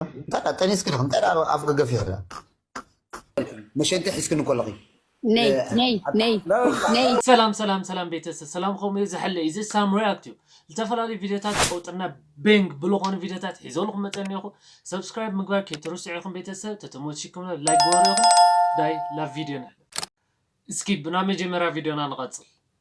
እንታይ ደኣ ጠኒስኪ ዲኺ እንታይ ደኣ ኣፍ ገገፍ ኢኺ ደኣ መሸንቲ ሒዝክኒ ከለኺ ነይ ነይ ነይ ነይ ሰላም ሰላም ሰላም ቤተሰብ ሰላም ከምኡ እዩ ዝሕለ እዩ እዚ ሳም ሪያክት እዩ ዝተፈላለዩ ቪድዮታት ቀውጥና ቤንግ ብዝኾኑ ቪድዮታት ሒዘልኩም መፀ እኒኹ ሰብስክራይብ ምግባር ከይትርስዑ ኢኹም ቤተሰብ ተተሞችኩም ላይክ ግበሩ ኢኹም ዳይ ላብ ቪድዮ ንሕለ እስኪ ብና መጀመርያ ቪድዮና ንቐፅል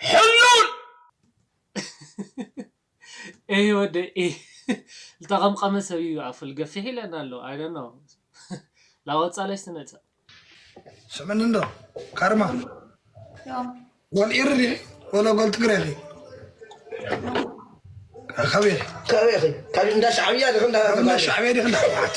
ሕሉል ኤህ ወደይ ኤህ ዝተቐምቐመ ሰብ እዩ ኣፉል ገፊሕ ኢለና ኣሎ ኣይ ዶንት ኖው ላወጻለሽ ትነጽእ ስምኒ እንዶ ካርማ ጎል ኢርድ ኢኺ ወሎ ጎል ትግረ ኢኺ ከበይ ከበይ ኢኺ ካብ እንዳ ሻዕብያ ዲኺ እንዳ ሻዕብያ ዲኺ እንዳ ህወሓት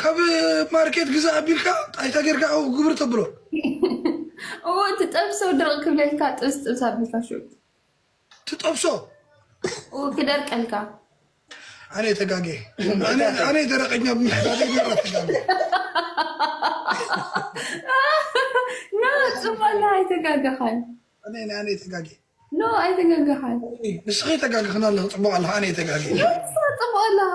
ካብ ማርኬት ግዛ ኣቢልካ ጣይታ ጌርካ ኣብኡ ግብር ተብሎ እዎ እቲ ጠብሶ ድርቅ ክብለልካ ጥብስ ጥብስ ኣቢልካ ሹት ትጠብሶ ክደርቀልካ ኣነ ተጋጌ ኣነ ደረቀኛ ብምሕታት ተጋጌ ጽባላ ኣይተጋገኻን ኣነ ኣነ ተጋጌ ኖ ኣይተጋገኻን ንስኺ ተጋግኽና ኣለኹ ጽቡቅ ኣለኹ ኣነ ተጋጌ ጽቡቅ ኣለኻ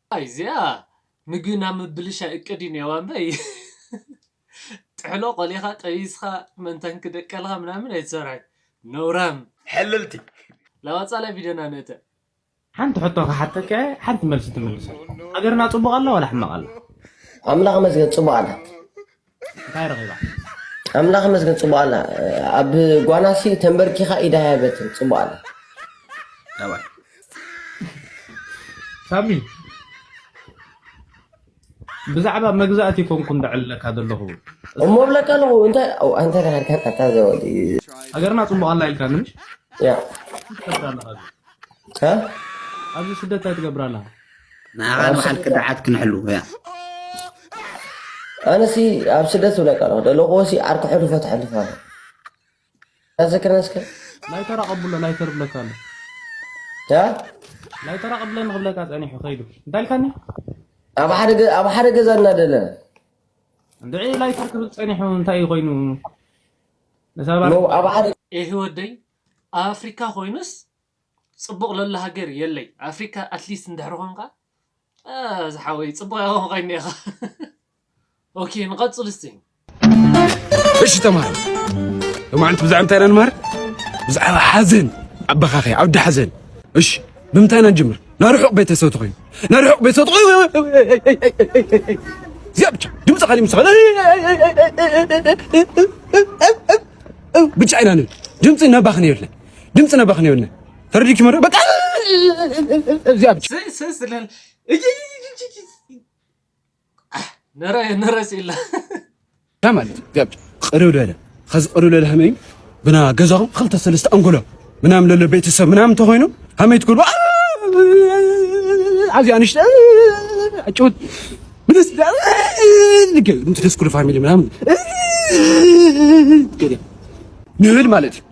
ኣይ እዚኣ ምግቢ ናብ ምብልሻይ እቅድ እዩ ኔዋ እምበይ ጥሕሎ ቆሊኻ ጠቢስኻ ምእንታን ክደቀልኻ ምናምን ኣይትሰርሕን ነውራም። ሕልልቲ። ላዋጻላይ ቪድዮና ንእተ። ሓንቲ ሕቶ ክሓተካ እየ ሓንቲ መልሲ ትምልሰላ ሃገርና ጽቡቅ ኣላ ዋላ ሕማቅ ኣላ። ኣምላኽ መስገን ጽቡቅ ኣላ። እንታይ ረኺባ? ኣምላኽ ይመስገን ጽቡቕ ኣላ ኣብ ጓናሲ ተንበርኪኻ ኢዳ ያበትን ጽቡቕ ኣላ ሳሚ ብዛዕባ መግዛእቲ ኮንኩን ደዕለካ ዘለኹ እሞ ብለካ ኣለኹ እንታይ ኣንተ ዳሃድካ ጣታ ዘወዲ ሃገርና ጽቡቕ ኣላ ኢልካ ንምሽ ያ ኣብዚ ስደት ኣይትገብራላ ንዓኻን በዓል ክድዓት ክንሕሉ እያ ኣነሲ ኣብ ስደት ብለካ ኣለኹ ደለኹዎሲ ዓርኪ ሕሉፎ ተሕልፎ ኣሎ ታዘክረን እስከ ላይተር ኣቐብሎ ላይተር ብለካ ኣሎ ላይተር ኣቐብለኒ ክብለካ ፀኒሑ ከይዱ እንታይ ኢልካኒ ኣብ ሓደ ገዛ እናደለ እንድዒ ላይተር ክብል ፀኒሑ እንታይ እዩ ኮይኑ ይህ ወደይ ኣብ ኣፍሪካ ኮይኑስ ጽቡቅ ለሎ ሃገር የለይ ኣፍሪካ ኣትሊስት እንድሕር ኮንካ ኣእ ዝሓወይ ጽቡቅ ያኮን ኮይኒ ኢካ ኦኬ ንቀጽል እስቲ እሺ ተማሃሮ ሎማዓንቲ ብዛዕባ እንታይ ኢና ንመሃር ብዛዕባ ሓዘን ኣባኻኸ ዓውዲ ሓዘን እሺ ብምንታይ ኢና ንጅምር ናይ ርሑቕ ቤተሰብ ተኮይኑ ናይ ርሑቕ ቤተሰብ ተኮይኑ እዚኣ ብቻ ድምፂ ካሊእ ምስ ብቻ ኢና ንብል ድምፂ ነባኽን የለን ድምፅ ነበኽ ነውነ ፈርዲ ኪመዶ በቃ እዚያ ብቻ ማለት እዚያ ብቻ ቅርብ ለለ ከዚ ቅርብ ለለ ከመይ ብና ገዛኹም ክልተ ሰለስተ ኣንጎሎ ምናምን ለለ ቤተሰብ ምናምን ተኾይኑ ከመይ ትክሉ ኣዚያ ንሽተ ጭውት ምንስ ድምፅ ደስ ኩሉ ፋሚሊ ምናምን ንብል ማለት እዩ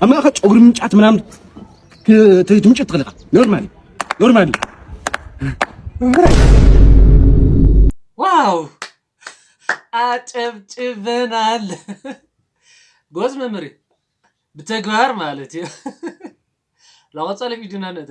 ኣብ ማእኸል ጨጉሪ ምንጫት ምናምን ትምጭት ትኽእል ኢኻ ኖርማል ኖርማል ዋው አጨብጭበናል። ጎዝ መምህር ብተግባር ማለት እዩ። ለቆፀለ ቪዲዮና ነተ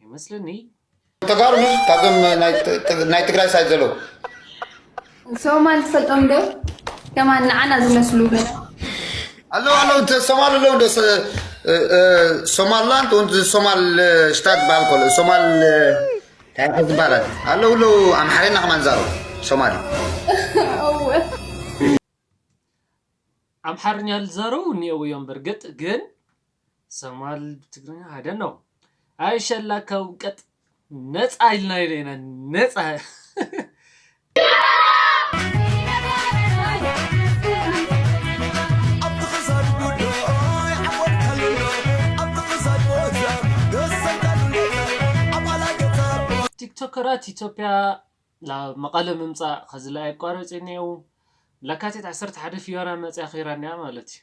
ይመስለኒ። ተጋሩ ኒውስ ካብዞም ናይ ትግራይ ሳይት ዘለዉ ሶማል ዝፈልጦም ዶ ከማን ንዓና ዝመስሉ ኣለዉ ኣለዉ ሶማል ኣለዉ ዶ ሶማልላንድ ወንት ሶማል ሽታት ዝበሃል ከሎ ሶማል ታይከ ዝበሃላት ኣለዉ ኣለዉ ኣምሓርና ከማን ዛረቡ ሶማሊ ኣምሓርኛ ዝዛረቡ እኒአው እዮም። በርግጥ ግን ሰማል ብትግርኛ ኣይ ዶንት ኖው ኣይ ሸላ ካብ ቀጥ ነጻ ኢልና ኢለ ኢና ነጻ ቲክቶከራት ኢትዮጵያ ናብ መቐለ ምምፃእ ከዝለኣየቋረፂ እኔዉ ለካቲት ዓሰርተ ሓደ ፍዮራ መፅያ ኺይራ እኒኣ ማለት እዩ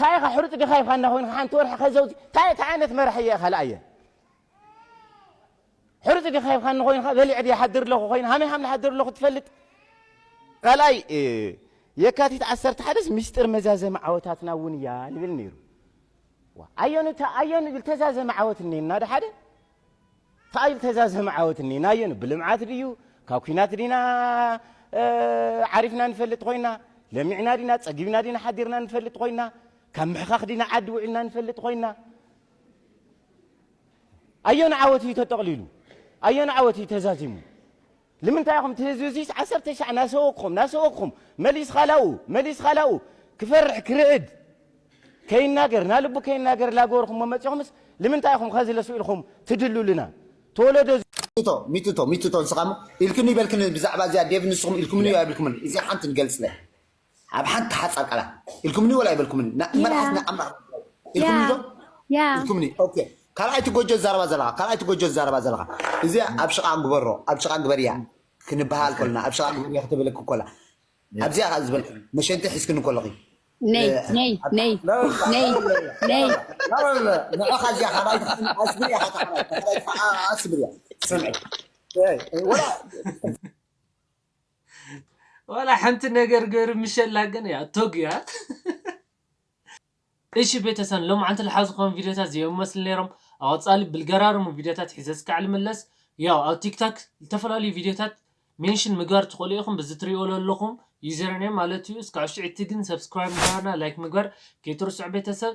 ታይ ኢኻ ሕሩጭ ገፋይ ፋና ኮይንካ ሓንቲ ወርሒ ከዘውቲ ታይ ታይ ዓይነት መራሒ እየ ካልኣ እየ ሕሩጭ ገፋይ ፋና ኮይንካ በሊዐ ድየ ሓድር ኣለኹ ኮይኑ ሃመይ ሃም ሓድር ኣለኹ ትፈልጥ ካልኣይ የካቲት ዓሰርተ ሓደስ ሚስጥር መዛዘሚ ዓወታትና እውን እያ ይብል ነይሩ ኣየኑ ኣየኑ ዝተዛዘመ ዓወት እኒና ዶ ሓደ ታኣዩ ዝተዛዘመ ዓወት እኒኤ ናዮ ብልምዓት ድዩ ካብ ኩናት ዲና ዓሪፍና ንፈልጥ ኮይና ለሚዕና ዲና ፀጊብና ዲና ሓዲርና ንፈልጥ ኮይና ካብ ምሕኻኽ ዲና ዓዲ ውዒልና ንፈልጥ ኮይና ኣየኑ ዓወት እዩ ተጠቕሊሉ ኣየኑ ዓወት እዩ ተዛዚሙ ልምንታይ ኢኹም እቲ ህዝቢ እዙይስ ዓሰርተ ሻዕ ናሰወግኹም ናሰወግኹም መሊስኻ ላብኡ መሊስኻ ላብኡ ክፈርሕ ክርዕድ ከይናገር ናልቡ ከይናገር ላገበርኹሞ መፂኹምስ ልምንታይ ኢኹም ኸዚ ለሱ ኢልኹም ትድሉልና ተወለዶ ሚጥቶ ሚጥቶ ሚጥቶ ንስኻ እሞ ኢልክኒ በልክኒ ብዛዕባ እዚኣ ዴቭ ንስኹም ኢልኩምኒ እዩ ኣይብልኩምን እዚኣ ሓንቲ ንገልፅለ። ኣብ ሓንቲ ሓጻር ቃላት ኢልኩምኒ ወላ ኣይበልኩምኒ ን- መልኣክ ያ ንኣምላኽ ኢልኩምኒ ዶ ያ ያ ኢልኩምኒ ኦኬ ካልኣይቲ ጎጆ ዝዛረባ ዘለኻ ካልኣይቲ ጎጆ ዝዛረባ ዘለኻ እዚኣ ኣብ ሽቓ ግበሮ ኣብ ሽቓ ግበርያ ክንበሃል ኦኬ ከሎና ኣብ ሽቓ ግበርያ ክትብለኪ ኮላ ያ ኣብዚኣ ከኣ ዝበልክኒ መሸንቲ ሒዝክኒ ከለኺ እ፣ ነይ ነይ ኣብ ነይ ሽቓ ላላላ ነይ ላላላ ነይ ላላላ ላላላ ንዕኻ እዚኣ ካልኣይቲ ከኣ ኣስብርያ ሓታ ካልኣይቲ ካልኣይቲ ከኣ ኣስብርያ ስምዒ እይ ወላ ዋላ ሐንቲ ነገር ገሩ ምሸላ ግን ያው ቶግ እዩ እ። እሺ ቤተሰን ሎምዓንቲ ልሓዝኽዎም ቪድዮታት ዚኦም መስሉ ነይሮም ኣቀፃሊ ብልገራርሙ ቪድዮታት ሒዘ እስካዕ ልምለስ ያው ኣብ ቲክታክ ልተፈላለዩ ቪድዮታት ሜንሽን ምግባር ትኽእሉ ኢኹም ብዚ ትሪእዎ ለለኹም ዩዘርኔም ማለት እዩ እስካዕ ውሽጢ ዕቲ ግን ሰብስክራይብ ምግባርና ላይክ ምግባር ከይትርስዑ ቤተሰብ